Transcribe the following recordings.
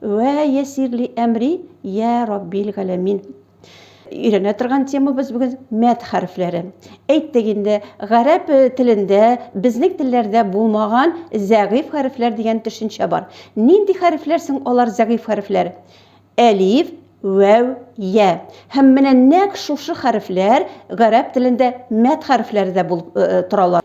Вә ясир ли әмри, йә Раббил галәмин. Өйрәнә торган темабыз бүген мәд хәрефләре. Әйттек инде, гарәп телендә, безнең телләрдә булмаган зәгыйфь хәрефләр дигән төшенчә бар. Нинди хәрефләр соң алар зәгыйфь хәрефләр? Әлиф, вәү, йә. Һәм менә нәкъ шушы хәрефләр гарәп телендә мәд хәрефләре дә булып торалар.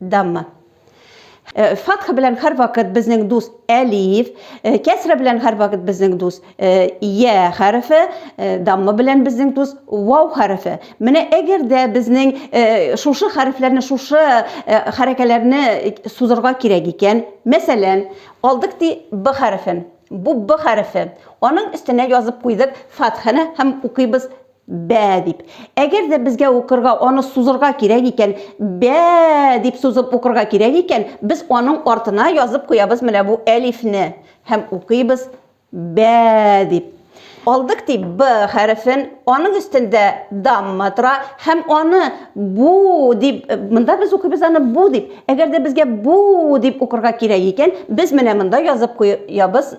Дамма. Э, фатха белән һәрвакыт безнең дус әлиф, э, кәсра белән һәрвакыт безнең дус э, я хәрефе, дамма белән безнең дус вау хәрефе. Менә әгәр дә безнең шушы хәрефләрне, шушы хәрәкәләрне сузырга кирәк икән, мәсәлән, алдык ди б хәрефен. Бу б хәрефе. Аның өстенә язып куйдык фатханы һәм укыйбыз Бә дип. Әгәр дә безгә укырга аны сузырга кирәк икән, бә дип сузып укырга кирәк икән, без аның артына язып куябыз менә бу әлифне һәм укыйбыз бә дип. Алдык ди б хәрефен, аның өстендә дамма тора һәм аны бу дип, монда без укыйбыз аны бу дип. Әгәр дә безгә бу дип укырга кирәк икән, без менә монда язып куябыз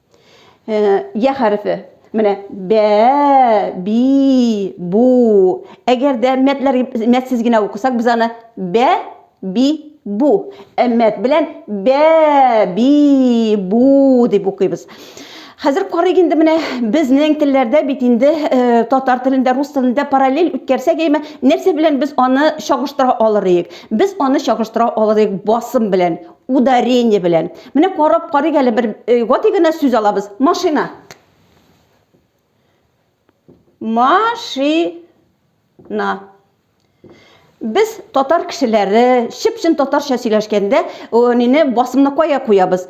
Йә хәрефе. Менә бә, би, бу. Әгәр дә мәтләр мәтсез генә укысак, без аны бә, би, бу. Ә мәт белән бә, би, бу дип укыйбыз. Хәзер карыйк инде менә безнең телләрдә бит инде э, татар телендә, рус телендә параллель үткәрсәк, әйме, нәрсә белән без аны чагыштыра алыр идек? Без аны чагыштыра алыр идек басым белән. Ударение белән. Менә карап карыйк әле бер э, гади генә сүз алабыз. Машина. Машина. Без татар кешеләре, чып-чын татарча сөйләшкәндә, нине басымны кая куябыз?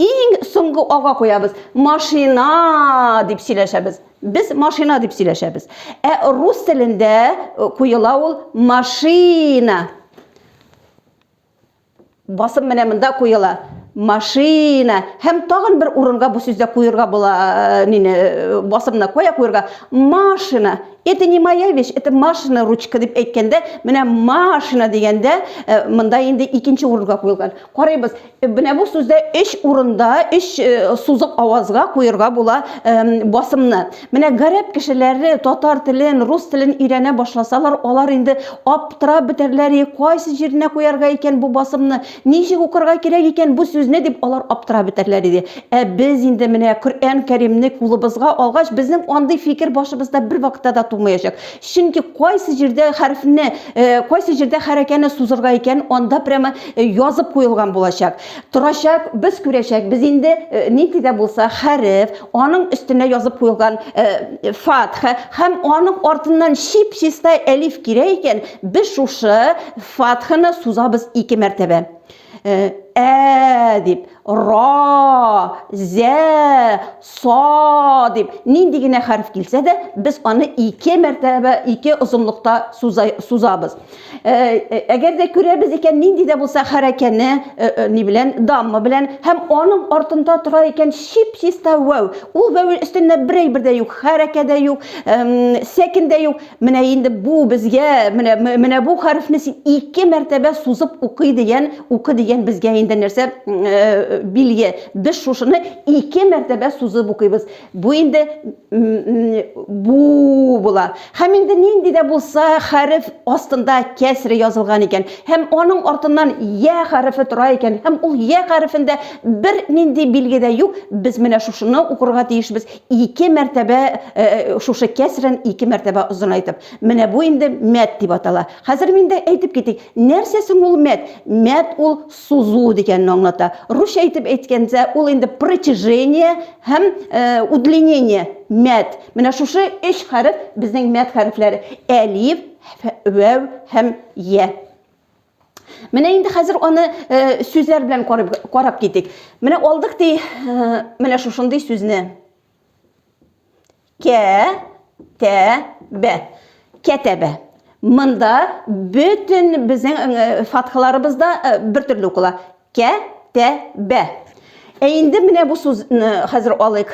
Иң соңгы ага куябыз. Машина дип сөйләшәбез. Без машина дип сөйләшәбез. Ә рус телендә куела ул машина. Басым менә монда куела. Машина. Һәм тагын бер урынга бу сүздә куерга була, э, нине, э, басымны кая куерга? Машина. Это не моя вещь, это машина ручка дип әйткәндә, менә машина дигәндә, э, монда инде икенче урынга куелган. Карыйбыз. Менә бу сүздә өч урында, өч сузык авазга куерга була басымны. Менә гарәп кешеләре татар телен, рус телен өйрәнә башласалар, алар инде аптырап бетәрләр, и, кайсы җиренә куярга икән бу басымны, ничек укырга кирәк икән бу сүзне, дип алар аптырап бетәрләр иде. Ә без инде менә Коръән Кәримне кулыбызга алгач, безнең андый фикер башыбызда бервакытта да тумаячак. Чөнки кайсы җирдә хәрефне, кайсы җирдә хәрәкәне сузырга икән, анда прямо язып куелган булачак. Торачак, без күрәчәк, без инде э, нинди дә булса хәреф, аның өстенә язып куелган э, фатха һәм аның артыннан чип-чиста әлиф кирәк икән, без шушы фатханы сузабыз ике мәртәбә. Э, ә дип, ра, зә, Со дип, нинди генә хәреф килсә дә, без аны ике мәртәбә, ике озынлыкта сузабыз. Э, э, әгәр дә күрәбез икән, нинди дә булса хәрәкәне, э, ни белән, дамма белән, һәм аның артында тора икән чип-чиста вәү. Ул вәү өстендә берәй бер дә юк, хәрәкә дә юк, сәкен дә юк. Менә инде бу безгә менә менә бу хәрефне син ике мәртәбә сузып укый дигән, укы дигән безгә инде нәрсә э, билге. Без шушыны ике мәртәбә сузып укыйбыз. Бу инде бу була. Һәм инде нинди дә булса хәреф астында кәсре язылган икән һәм аның артыннан я хәрефе тора икән һәм ул я хәрефендә бер нинди билге дә юк. Без менә шушыны укырга тиешбез. Ике мәртәбә шушы кәсрен ике мәртәбә озынайтып. Менә бу инде мәт дип атала. Хәзер мин дә әйтеп китик. Нәрсә соң ул мәт? Мәт ул сузу дигәнне аңлата. Русча итеп әйткәндә, ул инде протяжение һәм удлинение, мәт. Менә шушы өч хәреф безнең мәт хәрефләре. Әлиф, вәү һәм йә. Менә инде хәзер аны э, сүзләр белән карап, карап китик. Менә алдык ди, э, менә шушындый сүзне. Кә, тә, бә. Кәтәбә. Монда бөтен безнең э, фатхаларыбыз да э, бер төрле укыла. Кә, тә, бә. Ә инде менә бу сүзне хәзер алыйк.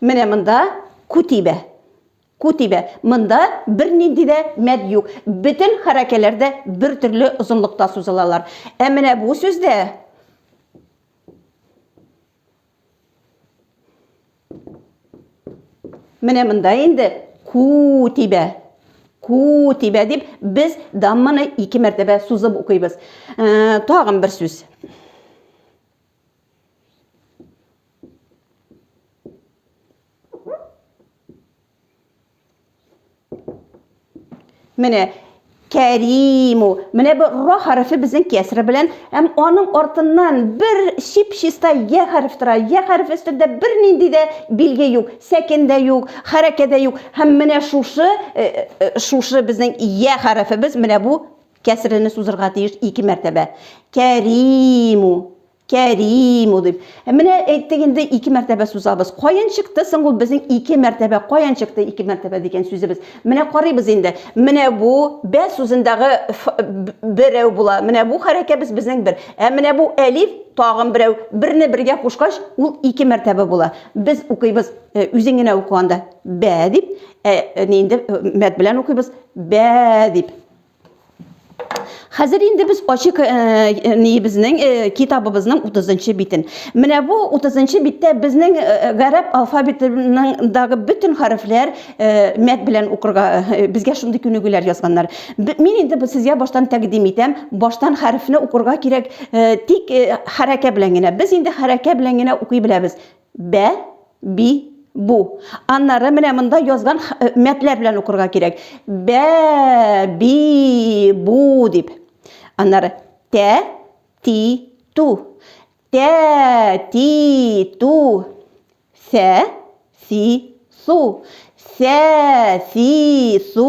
Менә монда күтибә. Күтибә. Монда бер нинди дә мәд юк. Бөтен хәрәкәләр дә бер төрле озынлыкта сузылалар. Ә менә бу сүздә Менә монда инде ку тибә. Ку тибә дип без дамманы ике мәртәбә сузып укыйбыз. Э, тагын бер сүз. Менә Кәриму. Менә бу ра хәрефе безнең кәсре белән, һәм аның артыннан бер чип-чиста я хәреф тора. Я хәреф өстендә бернинди дә билге юк, сәкен дә юк, хәрәкә дә юк. Һәм менә шушы э, э, шушы безнең я хәрефебез менә бу кәсрене сузырга тиеш ике мәртәбә. Кәриму. Кәрим дип. Ә менә әйттек инде ике мәртәбә сузабыз. Каян чыкты соң ул безнең ике мәртәбә? Каян чыкты ике мәртәбә дигән сүзебез? Менә карыйбыз инде. Менә бу бә сүзендәге берәү була. Менә бу хәрәкәбез безнең бер. Ә менә бу әлиф тагын берәү. Берне бергә кушкач, ул ике мәртәбә була. Без укыйбыз э, үзең генә укыганда бә дип, ә э, инде э, мәд белән укыйбыз бә дип. Хәзер инде без ачык э, э, ниебезнең э, китабыбызның 30 битен. Менә бу 30 биттә безнең гарәп алфавитындагы бөтен хәрефләр мәт белән укырга безгә шундый күнегүләр язганнар. Мин инде бу сезгә баштан тәкъдим итәм. Баштан хәрефне укырга кирәк, тик хәрәкә белән генә. Без инде хәрәкә белән генә укый беләбез. Бә, би, бу. Аннары менә монда язган э, мәтләр белән укырга кирәк. Бә, би, бу дип. Аннары тә, ти, ту. Тә, ти, ту. Сә, си, су. Сә, си, су.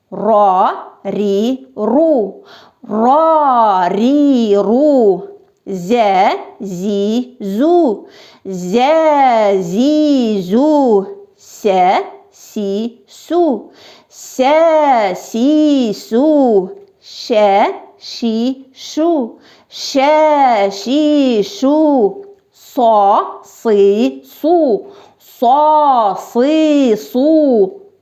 Ро, ри, ру. Ро, ри, ру. Зә, зи, зу. Зә, зи, зу. Сә, си, су. Сә, си, су. Шә, ши, шу. Шә, ши, шу. Со, сы, су. Со, сы, су.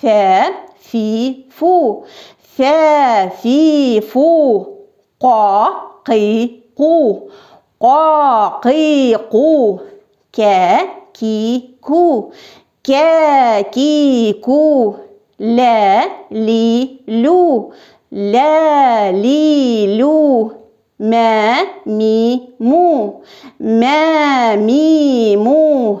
Фә, фи, фу. Фә, фи, фу. Ка, ки, ку. Ка, ки, ку. Кә, ки, ку. Кә, ки, ку. Лә, ли, лю. Лә, ли, лю. Мә, ми, му. Мә, ми, му.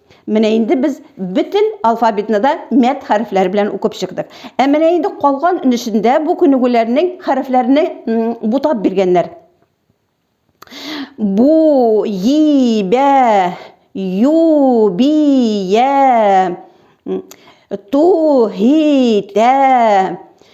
Менә инде без бөтен алфавитны да мәт хәрефләре белән укып чыктык. Ә менә инде калган өнешендә бу күнегүләрнең хәрефләрне бутап биргәннәр. Бу, и, бә, ю, би, я, ту, һи, тә,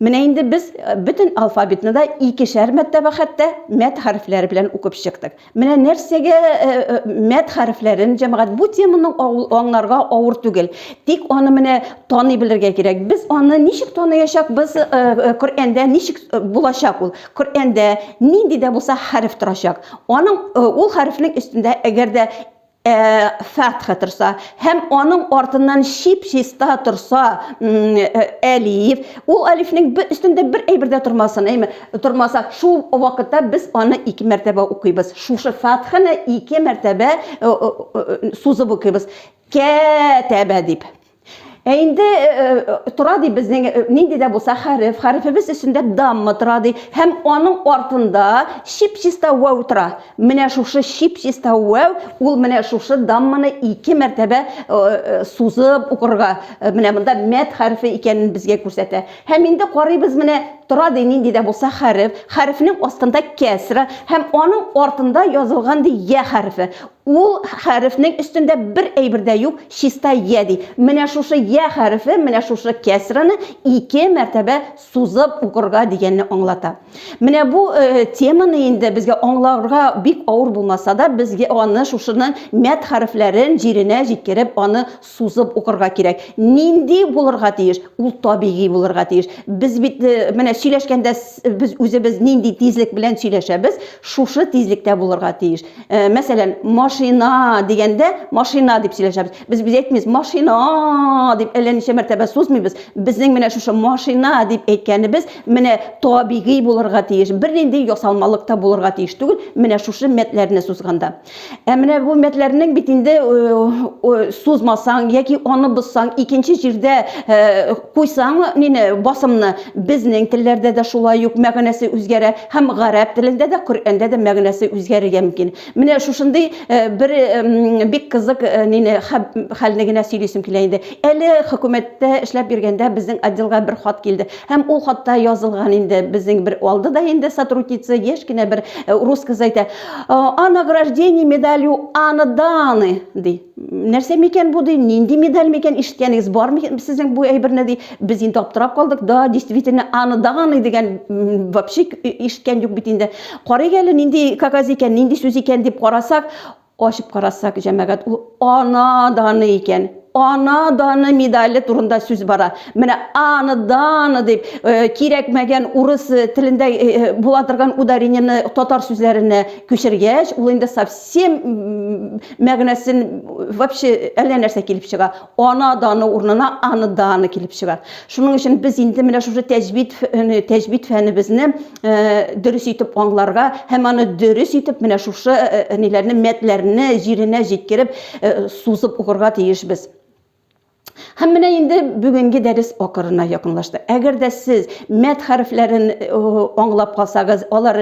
Менә инде без э, бөтен алфавитны да икешәр мәртәбә хәтта мәт хәрефләре белән укып чыктык. Менә нәрсәгә э, э, мәт хәрефләрен җәмәгать бу теманы аңларга авыр түгел. Тик аны менә таный белергә кирәк. Без аны ничек таныячакбыз? Коръәндә ничек булачак ул? Коръәндә нинди дә булса хәреф торачак. Аның ул хәрефнең өстендә әгәр дә фәтха торса һәм аның артыннан чип-чиста торса әлиф, ул әлифнең бер өстендә бер әйбер дә тормасын, әйме? Тормаса, шул вакытта без аны ике мәртәбә укыйбыз. Шушы фәтханы ике мәртәбә сузып укыйбыз. Кәтәбә дип. Ә инде э, э, тора ди безнең э, нинди дә булса хәреф, хәрефебез өстендә дамма тора ди һәм аның артында чип-чиста вау тора. Менә шушы чип-чиста вау ул менә шушы дамманы ике мәртәбә сузып укырга, менә монда мәт хәрефе икәнен безгә күрсәтә. Һәм инде карыйбыз менә тора ди нинди дә булса хәреф, хәрефнең астында кәсра һәм аның артында язылган ди я хәрефе. Ул хәрефнең өстендә бер әйбер дә юк, чиста йә ди. Менә шушы йә хәрефе менә шушы кәсрәне ике мәртәбә сузып укырга дигәнне аңлата. Менә бу теманы инде безгә аңларга бик авыр булмаса да, без аны шушының мәд хәрефләрен җиренә җиткереп, аны сузып укырга кирәк. Нинди булырга тиеш? Ул табигый булырга тиеш. Без бит э, менә сөйләшкәндә без үзебез нинди тизлек белән сөйләшәбез, шушы тизлектә булырга тиеш. Э, мәсәлән, машина дигәндә машина дип сөйләшәбез. Без без әйтмибез машина дип әллә ничә мәртәбә сузмыйбыз. Безнең менә шушы машина дип әйткәнебез менә табигый булырга тиеш. Бернинди ясалмалык та булырга тиеш түгел, менә шушы мәтләрне сузганда. Ә менә бу мәтләрнең бит инде сузмасаң яки аны бозсаң, икенче җирдә куйсаң, нине басымны безнең телләрдә дә шулай ук мәгънәсе үзгәрә һәм гарәп телендә дә, Коръәндә дә мәгънәсе үзгәрергә мөмкин. Менә шушындый бер бик кызык нине хәлне генә сөйлисем килә инде. Әле хөкүмәттә эшләп йөргәндә безнең отделга бер хат килде. Һәм ул хатта язылган инде, безнең бер алды да инде сотрудница, яшь кенә бер э, рус кызы әйтә, о награждении медалью Анны Даны, ди. Нәрсә микән бу, ди, нинди медаль микән, ишеткәнегез бармы сезнең бу әйберне, ди. Без инде аптырап калдык, да, действительно, Анна Даны дигән вообще ишеткән юк бит инде. Карыйк әле, нинди кагаз икән, нинди сүз икән дип карасак, Ачып карасак, җәмәгать, ул Ана даны икән. Ана даны медале турында сүз бара. Менә Ана даны дип, кирәкмәгән урыс телендә була торган ударениене татар сүзләренә күчергәч, ул инде совсем мәгънәсен вообще әллә нәрсә килеп чыга. Ана даны урынына Аны даны килеп чыга. Шуның өчен без инде менә шушы тәҗвид, тәҗвид фәнебезне Э, дөрес итеп аңларга һәм аны дөрес итеп менә шушы э, э, ниләрне мәтләрне җиренә җиткереп сузып укырга тиешбез Һәм менә инде бүгенге дәрес акырына якынлашты. Әгәр дә сез мәт хәрефләрен аңлап калсагыз, алар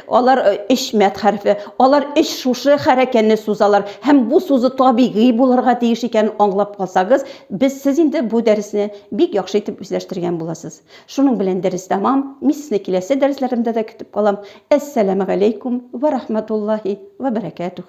алар эш мәт хәрефе, алар эш шушы хәрәкәне сузалар һәм бу сузу табигый булырга тиеш икәнен аңлап калсагыз, без сез инде бу дәресне бик яхшы итеп үзләштергән буласыз. Шуның белән дәрес тәмам, мин сезне киләсе дәресләремдә дә көтеп калам, әссәләмәгаләйкүм вә рахмәтуллаһи вә бәрәкәтүһ.